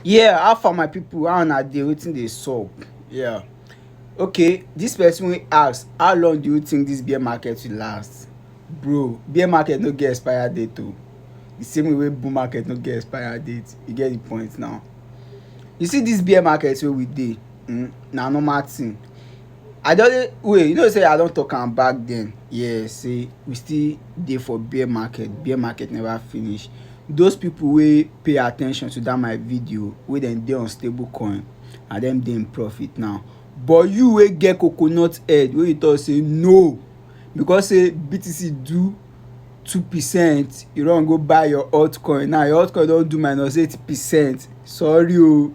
Yeah, how far my people, how una dey, wetin dey sup? Yeah. Okay, this person wey ask, how long do you think this bear market will last? Bro, bear market no get expire date o. The same way wey bull market no get expire date, you get the point now. You see this bear market wey we dey, um na normal thing. I don dey wait, you know say I don talk am back then yeah say we still dey for bear market, bear market never finish. Those people wey pay at ten tion to that my video wey dem dey on stable coin na dem dey in profit now. But you wey get coconut head wey you talk say no because say BTC do two percent you run go buy your altcoin now your altcoin don do minus eight percent sorry o.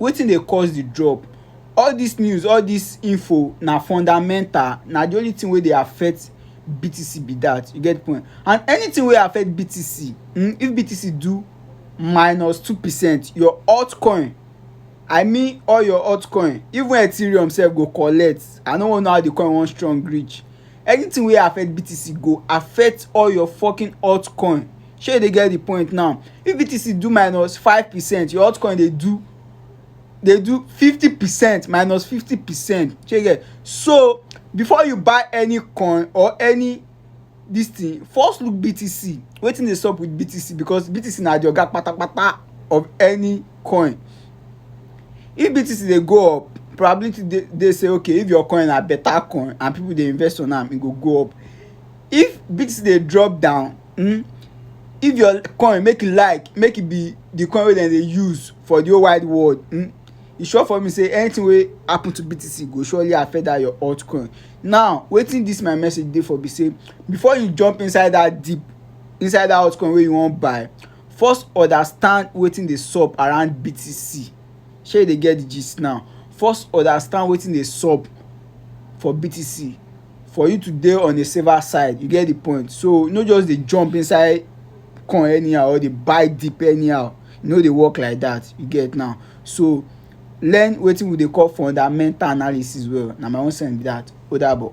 Wetin dey cause the drop? All dis news, all dis info na fundamental, na the only thing wey dey affect BTC be dat. You get point? And anything wey affect BTC, um if BTC do minus two percent, your altcoin, I mean all your altcoin, even Ethereum sef go collect. I no wan know how the coin wan strong reach. Anything wey affect BTC go affect all your fokin altcoin. shey you dey get the point now if btc do minus five percent your altcoin dey do dey do fifty percent minus fifty percent shey you get so before you buy any coin or any this thing first look btc wetin dey sup with btc because btc na the oga patapata of any coin if btc dey go up probability dey dey say okay if your coin na better coin and people dey invest on am e go go up if btc dey drop down um if your coin make e like make e be the coin wey dem dey use for the whole wide world um e sure for me say anything wey happen to BTC go surely affect that your altcoin now wetin this my message dey for be say before you jump inside that deep inside that altcoin wey you wan buy first understand wetin dey sup around BTC shey you dey get the gist now first understand wetin dey sup for BTC for you to dey on a saver side you get the point so no just dey jump inside coin anyhow or dey buy deep anyhow e no dey work like that you get now so learn wetin we dey call fundamental analysis well na my own send be that o dabo.